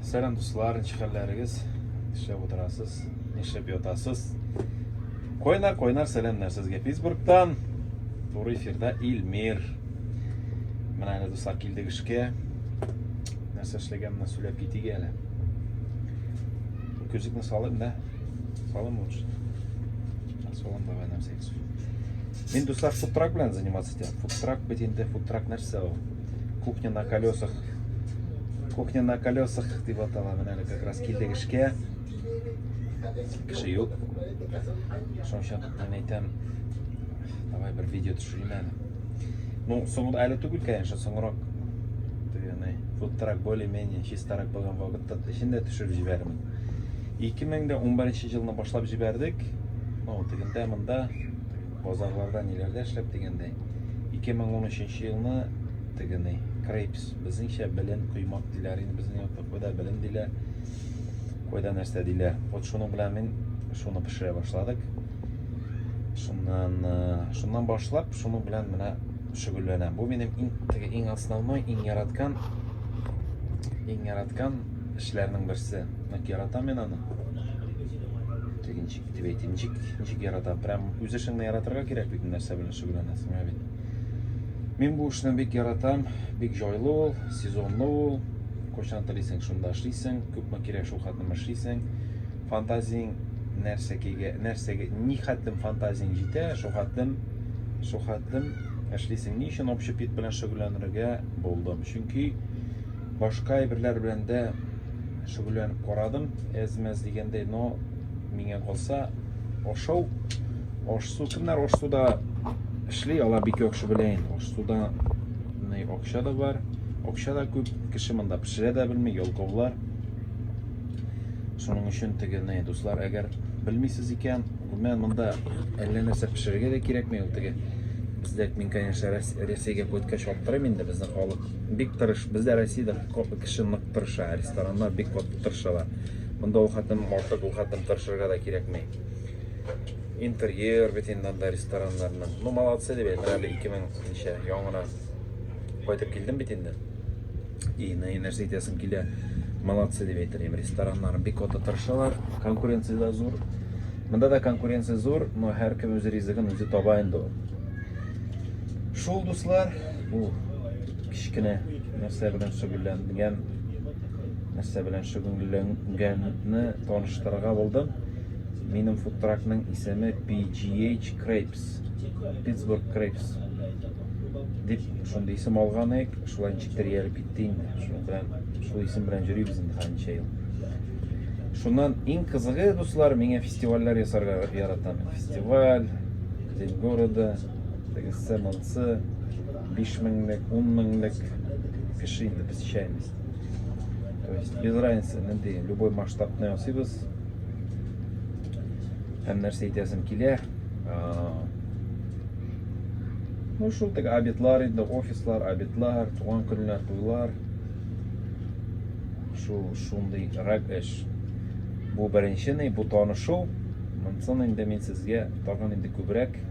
Сәлам дуслар, ничек хәлләрегез? Нишләп утырасыз? Нишләп ятасыз? Койнар, койнар, сәламнәр сезгә Питтсбургтан. Туры эфирда Илмир. Менә әле дуслар килдек эшкә. Нәрсә эшләгәнне сөйләп китик әле. Күзекне салыйм да. Салым лучше. Салым давай нам секс. Мин дуслар фудтрак белән заниматься итәм. Фудтрак бит инде, фудтрак нәрсә ул? Кухня на колесах. Кухня на колесах дип атала. Менә әле как раз килдек эшкә. Кеше юк. Шуның өчен мен әйтәм, давай бер видео төшерим әле. Ну, соңында әле түгел, конечно, соңрак дигәне, фудтрак более-менее чистарак булган вакытта эчендә төшереп җибәрәмен. 2011 елны башлап җибәрдек. Ну, тегендә монда Базарларда ниләрдә эшләп дигәндәй, 2013 елны тегений, крейпс, безнеңчә белен коймак диләр, инде безнең якта кайда белен диләр, кайда нәрсә диләр. Вот шуның белән мин шуны пешерә башладык. Шуннан, э, шуннан башлап, шуның белән менә шөгыльләнәм. Бу минем иң теге иң основной, иң яраткан иң яраткан эшләрнең берсе. Ник яратам мин аны? Дип әйтим, ничек, ничек ярата. Прям үз эшеңне яратырга кирәк бит, нәрсә белән шөгыльләнәсең, ә бит. Мин бу эшне бик яратам, бик җайлы ул, сезонлы ул. Кайчан телисең, шунда эшлисең, күпме кирәк шул хәтлем эшлисең. Фантазиң нәрсәгә, нәрсәгә, ни хәтлем фантазиң җитә, шул хәтлем, шул хәтлем эшлисең. Ни өчен общепит белән шөгыльләнергә булдым? Чөнки Башка әйберләр белән дә шөгыльләнеп карадым, әз-мәз дигәндәй, но миңа калса ашау, аш-су, кемнәр аш-суда эшли, алар бик яхшы белә инде. Аш-суда акча да бар, акча да күп, кеше монда пешерә дә белми, ялкаулар. Шуның өчен теге, дуслар, әгәр белмисез икән, гомумән монда әллә нәрсә пешерергә дә кирәкми, ул теге бездәк мин, конечно, Рәсәйгә кайткач аптырыйм инде, безнең халык бик тырыш бездә россиядә кеше нык тырыша рестораннар бик каты тырышалар монда ул хәтлем артык ул хәтлем тырышырга да кирәкми интерьер бит инде анда рестораннарның ну молодцы дип әйтәм әле ике мең ничә яңара кайтып килдем бит инде и нәрсә итәсем килә молодцы дип әйтер идем рестораннар бик каты тырышалар конкуренция да зур монда да конкуренция зур но һәркем үз ризыгын үзе таба инде ул шул дуслар Бу кечкенә нәрсә белән шөгыльләнгән, нәрсә белән шөгыльләнгәнне таныштырырга булдым. Минем фудтракның исеме PGH Crepes, Pittsburgh Crepes. Дип, шундый исем алган ек, шулай ничек тәрбиялеп китте инде. Шул белән, шул исем белән йөрибез инде хәнчә ел. Шуннан иң кызыгы, дуслар, миңа фестивальләр ясарга яратам. Фестиваль, День города, тегесе монсы биш меңлек ун меңлек кеше инде без чәймиз то есть без разницы нинди любой масштабны ясыйбыз һәм нәрсә әйтәсем килә ну шул теге обедлар инде офислар обедлар туган көннәр туйлар шул шундый рәк эш бу беренче бу танышу монсын инде мин сезгә тагын инде күбрәк